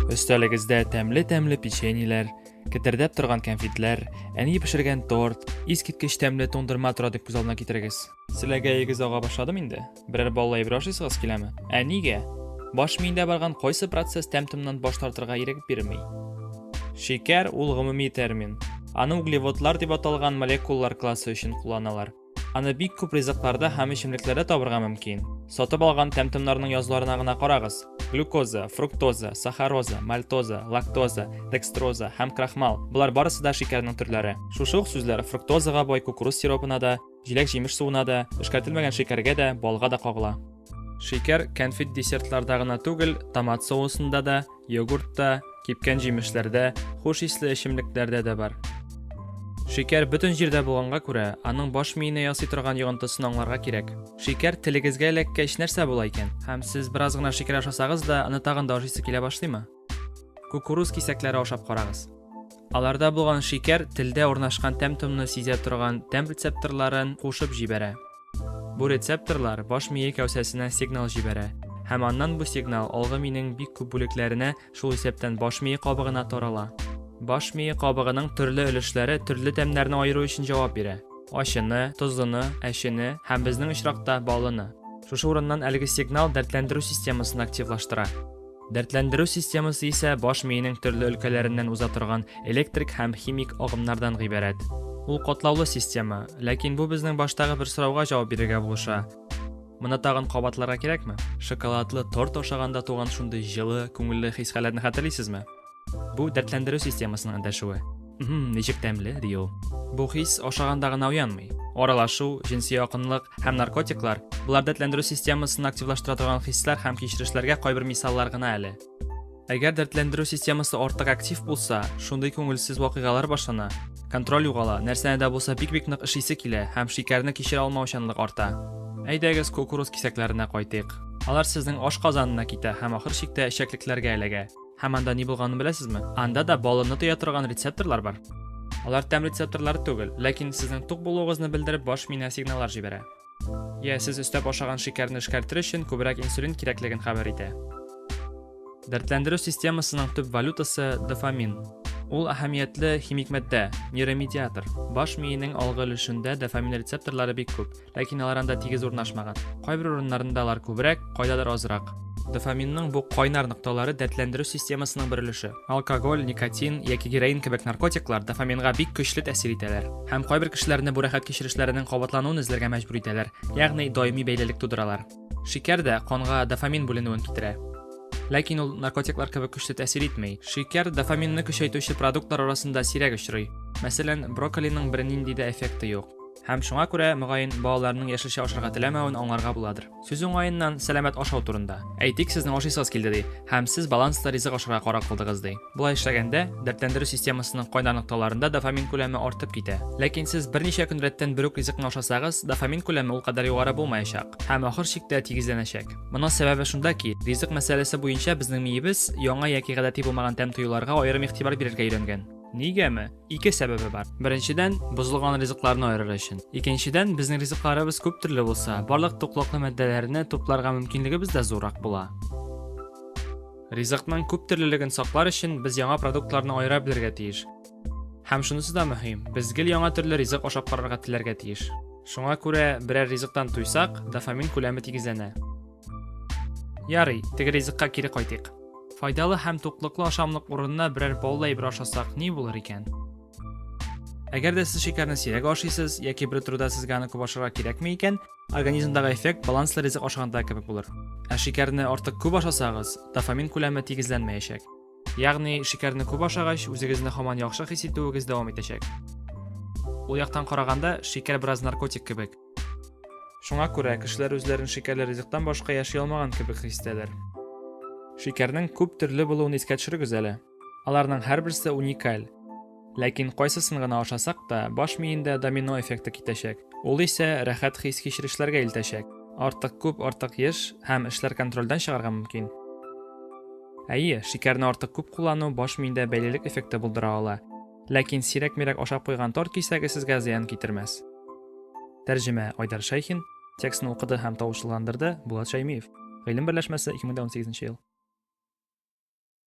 Өстәлегездә тәмле-тәмле печеньеләр, кетердәп торган кәнфитләр, әни пешергән торт, искиткеч тәмле туңдырма тора дип күз алдына китерегез. Селәгәегез ага башладым инде. Берәр баллы әйбер ашыйсыгыз киләме? Ә нигә? Баш миендә барган кайсы процесс тәм-томнан баш тартырга ирек бирми? Шикәр ул гомуми термин. Аны углеводлар дип аталган молекулалар классы өчен кулланалар. Аны бик күп ризыкларда һәм эчемлекләрдә табырга мөмкин. Сатып алган тәм-томнарның язуларына гына карагыз. Глюкоза, фруктоза, сахароза, мальтоза, лактоза, декстроза һәм крахмал. Болар барысы да шикәрнең төрләре. Шушы ук сүзләр фруктозага бай кукуруз сиропына да, җиләк-җимеш суына да, эшкәртелмәгән шикәргә дә, балга да кагыла. Шикәр кәнфит десертларда гына түгел, томат соусында да, йогуртта, кипкән җимешләрдә, хуш исле эчемлекләрдә дә бар. Шикәр бөтен җирдә булганга күрә, аның баш миенә ясый торган йогынтысын аңларга кирәк. Шикәр телегезгә эләккәч нәрсә була икән? Һәм сез бераз гына шикәр ашасагыз да, аны тагын да ашыйсы килә башлыймы? Кукуруз кисәкләре ашап карагыз. Аларда булган шикәр телдә урнашкан тәм-томны сизә торган тәм рецепторларын кушып җибәрә. Бу рецепторлар баш мие кәүсәсенә сигнал җибәрә, һәм аннан бу сигнал алгы минең бик күп бүлекләренә, шул исәптән баш мие кабыгына тарала. Баш мие кабыгының төрле өлешләре төрле тәмнәрне аеру өчен җавап бирә. Ачыны, тозлыны, әчене һәм безнең очракта баллыны. Шушы урыннан әлеге сигнал дәртләндерү системасын активлаштыра. Дәртләндерү системасы исә баш миенең төрле өлкәләреннән уза торган электрик һәм химик агымнардан гыйбарәт. Ул катлаулы система, ләкин бу безнең баштагы бер сорауга җавап бирергә булыша. Моны тагын кабатларга кирәкме? Шоколадлы торт ашаганда туган шундый җылы, күңелле хис-хәлләрне хәтерлисезме? Бу дәртләндерү системасының эндәшүе. Хм, ничек тәмле, ди ул. Бу хис ашаганда гына уянмый. Аралашу, җенси якынлык һәм наркотиклар, булар дәртләндерү системасын активлаштыра торган хисләр һәм кичерешләргә кайбер мисаллар гына әле. Әгәр дәртләндерү системасы артык актив булса, шундый күңелсез вакыйгалар башлана. Контроль югала, нәрсәне дә булса бик-бик нык ишисе килә һәм шикәрне кичерә алмаучанлык арта. Әйдәгез кукуруз кисәкләренә кайтыйк. Алар сезнең аш казанына китә һәм ахыр чиктә эчәклекләргә эләгә. Һәм анда ни булганын беләсезме? Анда да баллны тоя торган рецепторлар бар. Алар тәм рецепторлары түгел, ләкин сезнең тук булуыгызны белдереп баш миенә сигналлар җибәрә. Йә, сез өстәп ашаган шикәрне эшкәртер өчен күбрәк инсулин кирәклеген хәбәр итә. Дәртләндерү системасының төп валютасы дофамин. Ул әһәмиятле химик матдә, нейромедиатор. Баш миенең алгы өлешендә дофамин рецепторлары бик күп. Ләкин алар анда тигез урнашмаган. Кайбер урыннарында алар күбрәк, кайдадыр азрак. Дофаминның бу кайнар нокталары дәртләндерү системасының бер өлеше. Алкоголь, никотин яки героин кебек наркотиклар дофаминга бик көчле тәэсир итәләр һәм кайбер кешеләрне бу рәхәт кичерешләренең кабатлануын эзләргә мәҗбүр итәләр, ягъни даими бәйлелек тудыралар. Шикәр дә канга дофамин бүленүен китерә. Ләкин ул наркотиклар кебек көчле тәэсир итми. Шикәр дофаминны көчәйтүче продуктлар арасында сирәк очрый. Мәсәлән, брокколиның бернинди дә эффекты юк. Һәм шуңа күрә, мөгаен, балаларның яшелчә ашарга теләмәвен аңларга буладыр. Сүз уңаеннан, сәламәт ашау турында. Әйтик, сезнең ашыйсыз килде ди, һәм сез баланслы ризык ашарга карар кылдыгыз ди. Болай эшләгәндә, дәртләндерү системасының кайнар нокталарында дофамин күләме артып китә. Ләкин сез берничә көн рәттән бер үк ризыкны ашасагыз, дофамин күләме ул кадәр югары булмаячак һәм ахыр чиктә тигезләнәчәк. Моның сәбәбе шунда ки, ризык мәсьәләсе буенча безнең миебез яңа яки гадәти булмаган тәм тоюларга аерым игътибар бирергә өйрәнгән. Нигәме? Ике сәбәбе бар. Беренчедән, бозылган ризыкларны аерыр өчен. Икенчедән, безнең ризыкларыбыз күп төрле булса, барлык туклыклы мәддәләрне тупларга мөмкинлегебез дә зуррак була. Ризыкның күп төрлелеген саклар өчен без яңа продуктларны аера белергә тиеш. Һәм шунысы да мөһим, без гел яңа төрле ризык ашап карарга теләргә тиеш. Шуңа күрә берәр ризыктан туйсак, дофамин күләме тигезләнә. Ярый, теге ризыкка кире кайтыйк. Файдалы һәм туклыклы ашамлык урынына берәр баллы әйбер ашасак, ни булыр икән? Әгәр дә сез шикәрне сирәк ашыйсыз яки бер турыда сезгә аны күп ашарга кирәкми икән, организмдагы эффект баланслы ризык ашаганда кебек булыр. Ә шикәрне артык күп ашасагыз, дофамин күләме тигезләнмәячәк. Ягъни шикәрне күп ашагач, үзегезне һаман яхшы хис итүегез дәвам итәчәк. Ул яктан караганда, шикәр бераз наркотик кебек. Шуңа күрә кешеләр үзләрен шикәрле ризыктан башка яши алмаган кебек хис итәләр. Шикәрнең күп төрле булуын искә төшерегез әле. Аларның һәрберсе уникаль. Ләкин кайсысын гына ашасак та, баш миендә домино эффекты китәчәк. Ул исә рәхәт хис-кичерешләргә илтәчәк. Артык күп, артык еш һәм эшләр контрольдән чыгарга мөмкин. Әйе, шикәрне артык күп куллану баш миендә бәйлелек эффекты булдыра ала. Ләкин сирәк-мирәк ашап куйган торт кисәге сезгә зыян китермәс. Тәрҗемә Айдар Шәйхин, текстны укыды һәм тавышлыландырды Булат Шәймиев. Гыйлем берләшмәсе 2018 ел.